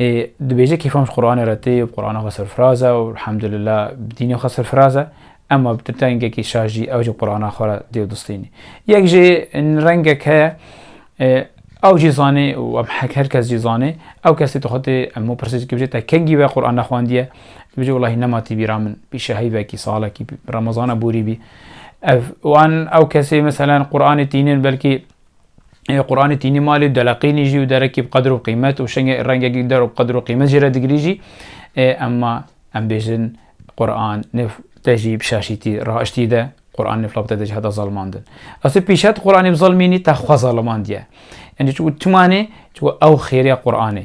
Ê dibêje kêfan ji Quranê re tê û bi Qurana xwe serfiraz e û elhamdulillah bi dînê xwe serfiraz e. Emma bi dengekî şaş jî ew jî bi Qurana xwe re dê û distînî. Yek jê rengek heye ew jî zanê û em her kes jî zanê ew kesê tu xwe tê hemû pirsê dikî bijê te kengî we Quran nexwandiye? Dibêje welahi nema tî bîra min pîşe heyvekî salekî remezana borî bî. Ev û an ew kesê meselan Quranê tînin belkî ê Quranê tînî malê û deleqînî jî û derekî bi qedir û qîmet û şenge rengekî der û qedir û qîmet jî re digirî jî ê emma em bêjin Quran nif te jî bi şaşîtî raiştî de Quran nif labte te jî heta zalimandin. Asê pîşet Quranê bi zalimînî te xwe zalimandiye. Enê çiku timanê çiku ew xêrêya Quranê.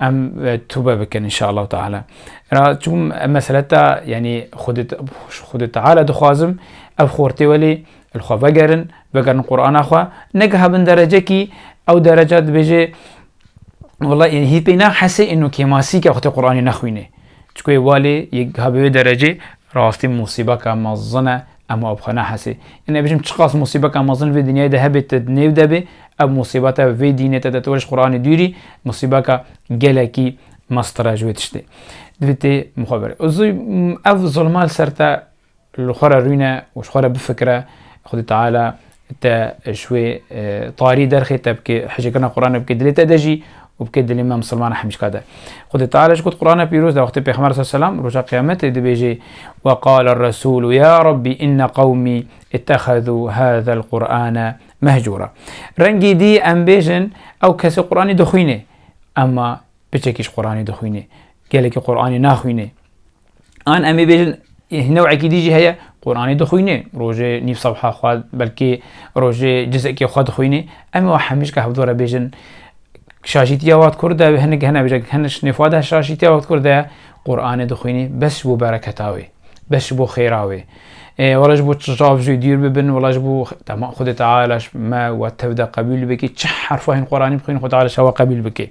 Em tûbe bikin inşallah Teala. Ra çûm em meseleta yanî xwedê xwedê Teala dixwazim ev xortê welê li xwe vegerin, vegerin Qur'ana xwe, negiha bin derecekî ew dereca dibêje Wala yani hî pê na hesê êno kêmasî ke xwedê Qur'anê nexwînê. Çku yê walê yê giha bi wê derecê rastî musîbaka mezin e Em ava bi xwe nehesê. Yên ez bijîm çiqas musîbeka mezin vê dinyayê de hebê te di nêv de bê, ev musîbeta vê dînê te de tu were ji Quranê dûrî musîbeka gelekî meztir e ji wê tiştê. Divê tê bi xwe berê. Û zû ev zilma li ser te li xwe re rûne û ji xwe re bifikire Xwedî Teala Te ji wê tarî derxê te bike, hicrkirina Qur'anê bike dilê te de jî û bike dilê me misilmana hemîşka de. Xwedê Teala jî got Qur'ana pîroz de wextê Pêxember sallallahu aleyhi ve sellem roja qîyametê dibêje ve qala er-Resûlu ya Rabbî inne qewmî ittehezû hazel Qur'ane mehcûra. Rengî dî em bêjin ew kesê Qur'anî dixwîne. Emma piçekî ji Qur'anî dixwîne. Gelekî Qur'anî naxwîne. An em ê bêjin newekî dî jî heye Quranê dixwînê, rojê nîv sefha xwe belkî rojê cizekê xwe dixwînê. Em ê hemîşka hevdû re bêjin şaşîtiya wat kur de hinek hene bêje hene şinê xwe de şaşîtiya wat kur de Quranê dixwînê bes ji bo bereketa wê bes ji bo xêra wê. Wala ji bo çav jî dîr bibin wala ji bo tema Xwedê Teala me we tev de qebûl bike çi herfa hîn Quranê bixwînin Xwedê Teala şewa qebûl bike.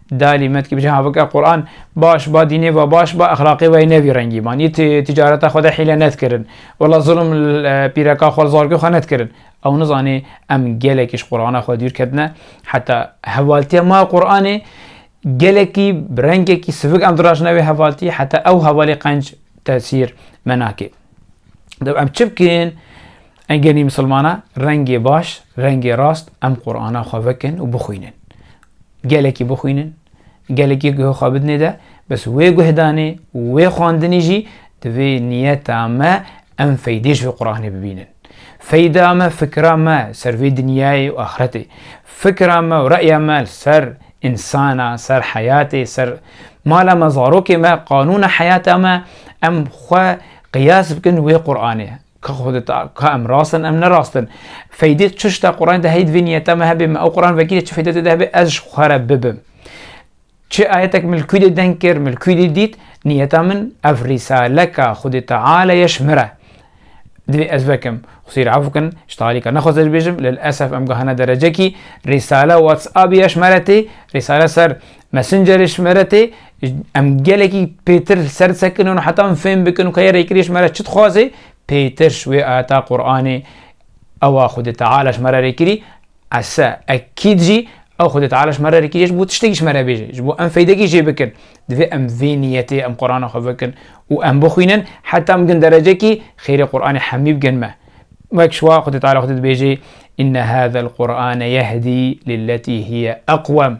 Dalî me dikî ha bike Quran baş ba dînê ve baş ba exlaqê weyî ne vî rengî man yî tîcareta xwe de hîle nedkirin wela zilm pîreka xwe zargê xwe nedkirin ew nizanê em gelekî ji Qurana xwe dûr ketine heta hevaltiya ma Quranê gelekî bi rengekî sivik em dirajine wê hevaltî heta ew hevalê qenc tesîr me nake Deb em çi bikin engenî misilmana rengê baş rengê rast em Qurana xwe vekin û bixwînin Gelekî bixwînin, gelekî guh xwe bidinê de, bes wê guhdanê û wê xwandinê jî divê niyeta me em feydê ji vê Quranê bibînin. Feyda me fikra me ser vê dinyayê û axretê. Fikra me û re'ya me li ser insana, ser heyatê, ser mala me, zarokê me, qanûna heyata me em xwe qiyas bikin wê Quranê. Ka xwe di ta ka em rast in em ne rast in. Feydê çi şita Quranê de heye divê niyeta me hebe me ew Quran vekirî çi feyda tê de hebe ez ji xwe re bibim. Çi ayetek min li kû dê deng kir min li kû dê dît niyeta min ev rîsaleka Xwedê Teala ye ji min re. Divê ez vekim. Xwesîr af bikin ji talîka nexwest ez bêjim lil esef em gihana derecekî rîsale WhatsApp ye ji me re tê, rîsale ser Messengerê ji me re tê, Em gelekî pêtir ser sekin û heta em fêm bikin ku yerê kirî ji me re çi dixwazê, pêtir ji wê ayeta Qur'anê ewa Xwedê Teala ji me re rêkirî, ese, ekîd jî ew Xwedê Teala ji me re rêkirî ji bo tiştekî ji me re bêje, ji bo em feydekî jê bikin. Divê em vê niyetê em Qur'ana xwe bikin û em bixwînin heta em bigin derecekî xêrê Qur'anê hemî bigin me. Wek ji wa Xwedê Teala xwe dibêje, Inne hâzel Qur'ane yehdî lilletî hiye eqwem.